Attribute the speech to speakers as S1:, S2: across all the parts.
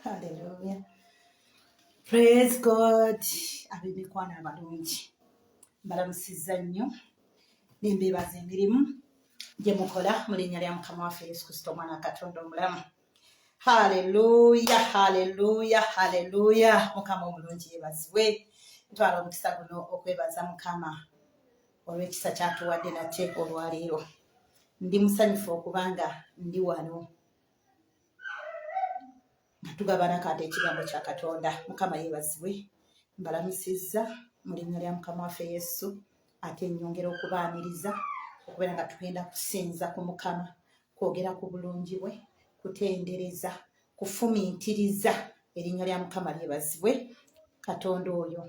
S1: Hallelujah. Praise God. Ab'emikwano abalungi mbalamusizza nnyo nembeebaza emirimu gye mukola mu linnya lya mukama waffe yesu kristo omwana wa katonda omulamu haleluya haleluya haleluya mukama omulungi yebaziwe ntwala omukisa guno okwebaza mukama olw'ekisa kyatuwadde nate olwaleero ndi musanyufu okuba nga ndi wano tugabana kati ekigambo kya katonda mukama yebazibwe mbalamusizza mu linnya lya mukama waffe yesu ate nyongera okubaaniriza okubeera nga tugenda kusinza ku mukama kwogera ku bulungi bwe kutendereza kufumiitiriza erinnya lya mukama lyebazibwe katonda oyo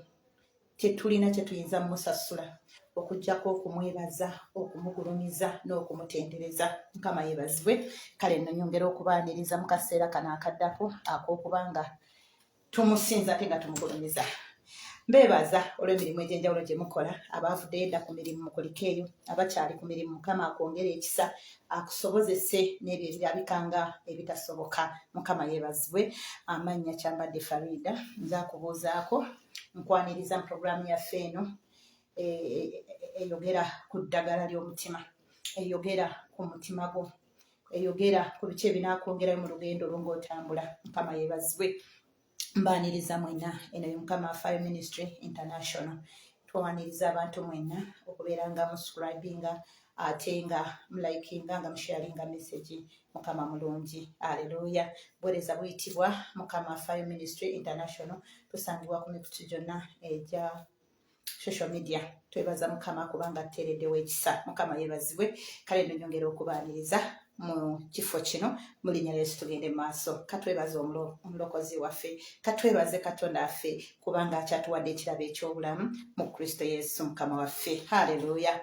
S1: tetulina kye tuyinza musasula okujjako okumwebaza okumugulumiza n'okumutendereza mukama yebazibwe kale no nyongera okubaaniriza mu kaseera kano akaddako ak'okuba nga tumusinza ate nga tumugulumiza mbeebaza olw'emirimu egy'enjawulo gye mukola abaavuddeyo edda ku mirimu mukulika eyo abakyali ku mirimu mukama akwongere ekisa akusobozese n'ebyo ebirabika nga ebitasoboka mukama yebazibwe amannya kyambadde farida nze akubuuzaako nkwaniriza mu puroguraamu yaffe eno e- e- e- eyogera ku ddagala ly'omutima eyogera ku mutima gwo eyogera ku biki ebinaakwongerayo mu lugendo lwo ng'otambula mukama yeebazibwe mbaaniriza mwenna eno ye mukama fire ministry international twaniriza abantu mwenna okubeera nga muscribinga ate nga mulayikinga nga musharinga message mukama mulungi aleluya buwereza buyitibwa mukama fire ministry international tusangibwa ku mikutu gyonna egya social media twebaza mukama kubanga tuteereddewo ekisa mukama yebazibwe kale nonyongera okubaaniriza mu kifo kino mu linnya lyesu tugende maaso katwebaze omulokozi waffe katwebaze katonda affe kubanga akyatuwadde ekirabo eky'obulamu mu kristo yesu mukama waffe haleluya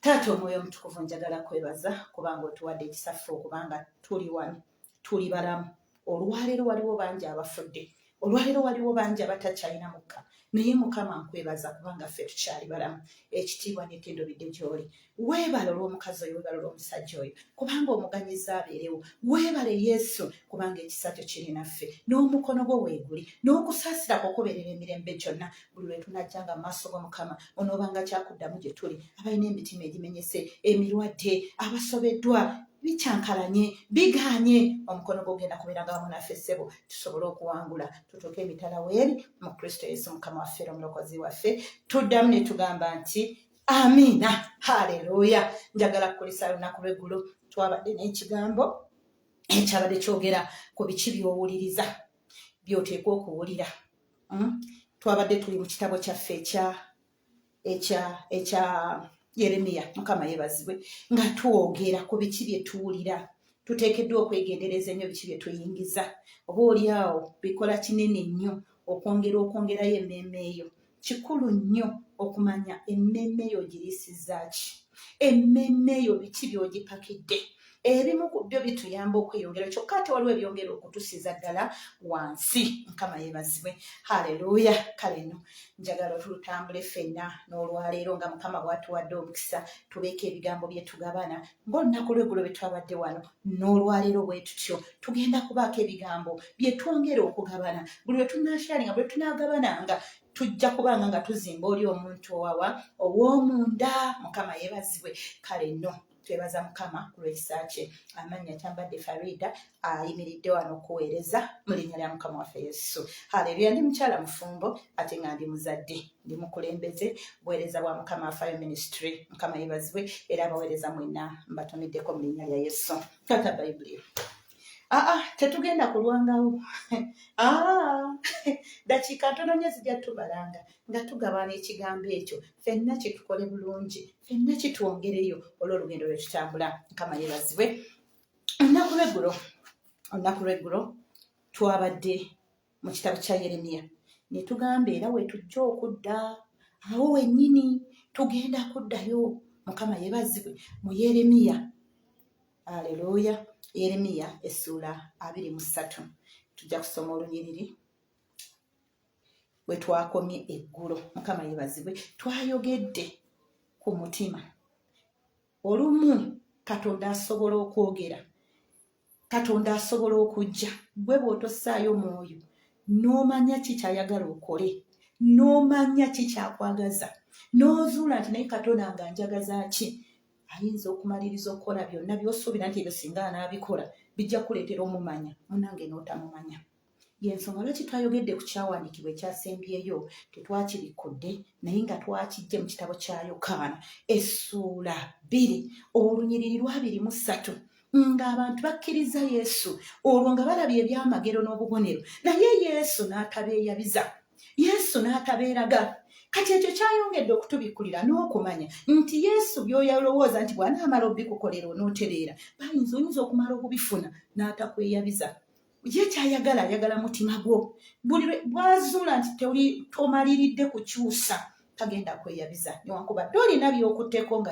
S1: taata omwoyo omutukuvu njagala kwebaza kubanga otuwadde ekisaffe okubanga tuli wano tuli balamu olwaleero waliwo bangi abafudde olwaleero waliwo bangi abatakyalina mukka naye mukama nkwebaza kubanga ffe tukyali balamu ekitiibwa netendo bidde gyoli weebale olw'omukazi oyo weebale olw'omusajja oyo kubanga omuganyiza abeerewo weebale yesu kubanga ekisa kyo kiri naffe n'omukono gwo weeguli n'okusaasira kwo kubeerera emirembe gyonna buli lwe tunajja nga maaso go mukama onoobanga kyakuddamu gye tuli abalina emitima egimenyese emirwadde abasobeddwa bikyankalanye bigaanye omukono gwogenda kubeeranga wamu naffe ssebo tusobole okuwangula tutuuke emitala weeri mu kristo yesu mukama waffe era omulokozi waffe tuddamu ne tugamba nti amiina haleluya njagala kukulisa lunaku lweggulo twabadde n'ekigambo ekyabadde kyogera ku biki byowuliriza byoteekwa okuwulira hmm? twabadde tuli mu kitabo kyaffe ekya ekya ekya yeremiya mukama yebazibwe nga twogera ku biki bye tuwulira tuteekeddwa okwegendereza ennyo biki bye tuyingiza oba oli awo bikola kinene nnyo okwongera okwongerayo emmeeme eyo kikulu nnyo okumanya emmeeme yo ogiriisizza ki emmeeme yo biki by'ogipakidde ebimu ku byo bituyamba okweyongera kyokka ate waliwo ebyongera okutusiza ddala wansi mukama yebazibwe haleluya kale no njagala tulutambule ffenna n'olwaleero nga mukama bwatuwadde omukisa tubeeko ebigambo byetugabana ng'olunaku lwegulo bwe twabadde wano n'olwaleero bwe tutyo tugenda kubaako ebigambo bye twongera okugabana buli lwe tunaasharinga buli lwe tunaagabananga tujja kubanga nga tuzimba oli omuntu owawa ow'omunda mukama yeebazibwe kale no twebaza mukama kulwekisa kye amannya kyambadde farida ayimiridde wano okuweereza mu linnya lya mukama waffe yesu haleluya ndi mukyala mufumbo ate nga ndi muzadde ndi mukulembeze buweereza bwa mukama afayo ministry mukama yebazibwe era abaweereza mwena mbatumiddeko mu linnya lya yesu kata bayibuli aa ah, ah, tetugenda kulwangawo ah, dakiika ntono nyo zijja tubalanga nga tugabana ekigambo ekyo fenna kyetukole bulungi fenna kitwongereyo olwolugendo lwetutambula mukama yebazibwe olunaku lweggulo olunaku lweggulo twabadde mu kitabo kya yeremiya ne tugamba era wetujja okudda awo wennyini tugenda kuddayo mukama yebazibwe mu yeremiya aleluya yeremiya essuula abiri mu ssatu tujja kusoma olunyiriri wetwakomye eggulo mukama yebazibwe twayogedde ku mutima olumu katonda asobola okwogera katonda asobola okujja gwe bw'otossaayo mwoyo n'omanya ki kyayagala okole n'omanya ki kyakwagaza n'ozuula nti naye katonda nga njagaza ki ayinza okumaliriza okukola byonna by'osuubira nti ebyo singa anaabikola bijja kuleetera omumanya munange n'otamumanya yensonga lwaki twayogedde ku kyawandiikibwa ekyasembyeyo tetwakirikkudde naye nga twakijje mu kitabo kya yokaana essuula bbiri olunyiriri lwabiri mu ssatu ng'abantu bakkiriza yesu olwo nga balabye ebyamagero n'obubonero naye yesu n'atabeeyabiza yesu n'atabeeraga kati ekyo kyayongedde okutubikkulira n'okumanya nti yesu byoyalowooza nti bw'anaamala obikukolera onootereera bayinza oyinza okumala okubifuna n'atakweyabiza ye kyayagala ayagala mutima gwo buli bwazuula nti toli tomaliridde kukyusa tagenda kweyabiza newankubadde olina byokuteko nga